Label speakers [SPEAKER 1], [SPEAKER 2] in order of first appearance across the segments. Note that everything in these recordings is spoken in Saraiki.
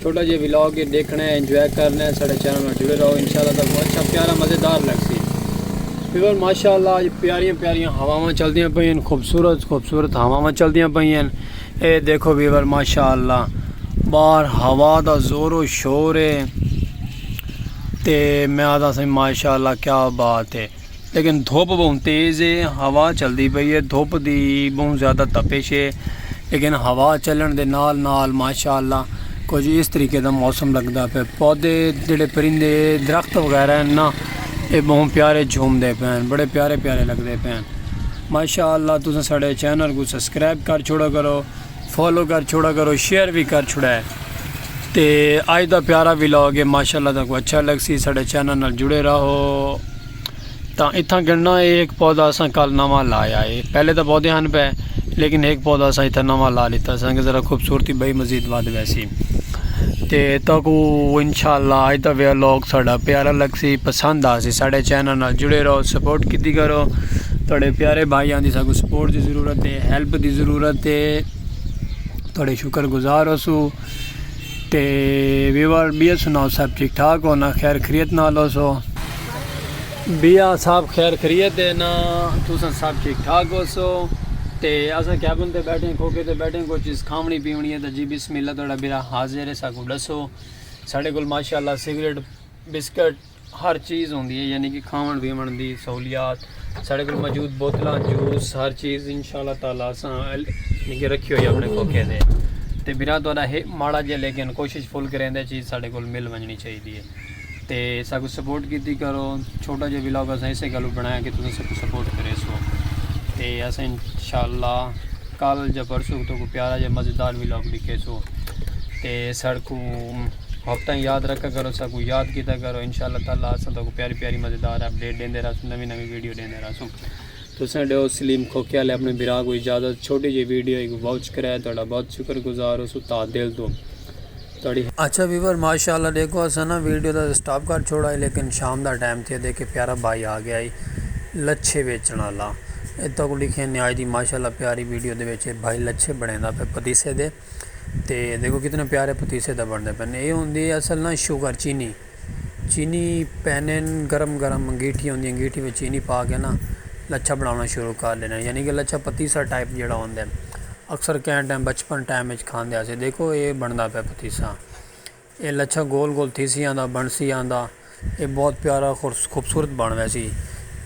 [SPEAKER 1] چھوٹا جیہا ولاگ ہے دیکھنا ہے انجوائے کرنا ہے ساڑھے چینل نال جڑے رہو انشاءاللہ تک کو اچھا پیارا مزیدار لگ سی پیور ماشاءاللہ اج پیاریاں پیاریاں ہواواں چلدیاں پئی ہیں خوبصورت خوبصورت ہواواں چلدیاں پئی ہیں اے دیکھو ویور ماشاءاللہ باہر ہوا دا زور و شور ہے تے میں آدھا سائیں ماشاءاللہ کیا بات ہے لیکن دھوپ بہوں تیز ہے ہوا چلدی پئی ہے دھوپ دی بہوں زیادہ تپش ہے لیکن ہوا چلن دے نال نال ماشاءاللہ کچھ اس طریقے دا موسم لگدا پے پودے جڑے پرندے درخت وغیرہ ہیں نا اے بہوں پیارے جھوم دے پے ہیں بڑے پیارے پیارے لگدے پے ہیں ماشاءاللہ تساں ساڈے چینل کو سبسکرائب کر چھوڑا کرو فالو کر چھوڑا کرو شیئر بھی کر چھوڑا ہے تے آج دا پیارا بھی لاؤ گے ماشاء اللہ تک اچھا لگ سی ساڑھے چینل نال جڑے رہو تا اتھاں گننا ہے ایک پودا اساں کل نواں لایا ہے پہلے تو پودے ہن پہ لیکن ایک پودا اساں اتھاں نواں لا لیتا سنگ ذرا خوبصورتی بھائی مزید واد ویسی تے تہاکوں انشاءاللہ اج دا ویلاگ ساڈا پیارا لگسی پسند آسی ساڈے چینل نال جڑے رہو سپورٹ کیتی کرو تہاڈے پیارے بھائی آندی ساکو سپورٹ دی ضرورت ہے ہیلپ دی ضرورت ہے تہاڈے شکر گزار ہوسو تے ویور بیا سناؤ سب ٹھیک ٹھاک ہو نا خیر خریت نال ہوسو بیا صاحب خیر خریت ہے نا تساں سب ٹھیک ٹھاک ہو سو تے اساں کیبن تے بیٹھے ہیں کھوکے تے بیٹھے ہیں کوئی چیز کھاونی پیونی ہے تے جی بسم اللہ تہاڈا بیرا حاضر ہے ساکو ڈسو ساڈے کول ماشاءاللہ سگریٹ بسکٹ ہر چیز ہوندی ہے یعنی کہ کھاون پیون دی سہولیات ساڈے کول موجود بوتلاں جوس ہر چیز انشاءاللہ تعالی اساں یعنی کہ رکھی ہوئی اپنے کھوکے دے تے بیرا تہاڈا ہے ماڑا جے لیکن کوشش فل کریں دے چیز ساڈے کول مل ونجنی چاہیے تے ساکوں سپورٹ کیتی کرو چھوٹا جا ولاگ اساں اسے گلوں بنایا کہ تساں ساکوں سپورٹ کریسو تے اساں انشاءاللہ کل جا پرسوں تو کو پیارا جا مزیدار ولاگ ڈکھیسو تے ساکوں ہفتہ یاد رکھا کرو ساکوں یاد کیتا کرو انشاءاللہ تعالی اساں تو کو پیاری پیاری مزیدار اپڈیٹ دیندے رہسوں نوی نوی ویڈیو دیندے رہسوں تساں ڈیو سلیم کھوکے والے اپنے برا کو اجازت چھوٹی جی ویڈیو ایک واچ کرے تہاڈا بہت شکر گزار ہو سو تا دل تو اچھا ویور ماشاءاللہ ڈیکھو اساں نا ویڈیو دا سٹاپ کر چھوڑا ہے لیکن شام دا ٹائم تھیا دیکھے پیارا بھائی آ گیا ہے لچھے ویچن والا اتھا کو لکھے نے آج دی ماشاءاللہ پیاری ویڈیو دے ویچے بھائی لچھے بنے دا پہ پتیسے دے تے دیکھو کتنے پیارے پتیسے دا بن دے پہ اے ہوں دی اصل نا شوگر چینی چینی پہنن گرم گرم انگیٹھی ہوندی انگیٹھی وچ چینی پا کے نا لچھا بناونا شروع کر ڈینا یعنی کہ لچھا پتیسا ٹائپ جیڑا ہوندے اکثر کہاں ٹائم بچپن ٹائم وچ کھاندے آسے دیکھو اے بندا پہ پتیسا اے لچھا گول گول تھی سی آندا بن سی آندا اے بہت پیارا خوبصورت بن ویسی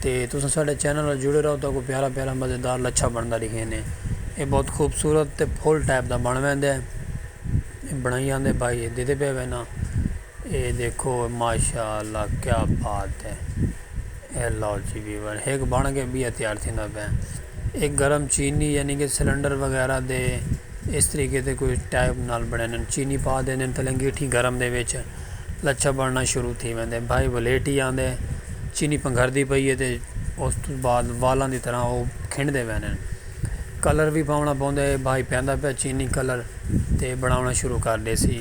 [SPEAKER 1] تے تساں ساڈے چینل نال جڑے رہو تو کو پیارا پیارا مزیدار لچھا بندا دکھے نے اے بہت خوبصورت تے پھول ٹائپ دا بن ویندے بنائی آندے بھائی دیتے پہ وینا اے دیکھو ماشاءاللہ کیا بات ہے اے لو جی ویور ہک بن کے بیا تیار تھیندا پیا اے گرم چینی یعنی کہ سلنڈر وغیرہ دے اس طریقے تے کوئی ٹائپ نال بنینن چینی پا دینن تھلے انگیٹھی گرم دے وچ لچھا بننا شروع تھی ویندے بھائی ولیٹی آندے چینی پنگھر دی پئی ہے تے اس تو بعد والاں دی طرح او کھنڈ دے وینن کلر بھی پاونا پوندے بھائی پیندا پیا چینی کلر تے بناونا شروع کر دے سی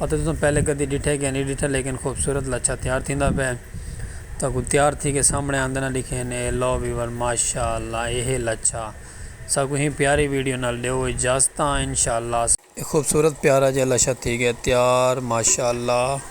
[SPEAKER 1] اتے تساں پہلے کدی ڈٹھے کہ نی ڈٹھا لیکن خوبصورت لچھا تیار تھیندا پئے تہاکوں تیار تھی کے سامنے آندے نہ ڈکھے ہن اے لو ویور ماشاءاللہ اے ہے لچھا ساکوں ہی پیاری ویڈیو نال ڈیو اجازتاں انشاءاللہ اساں۔ اے خوبصورت پیارا جیہا لچھا تھی گئے تیار ماشاءاللہ۔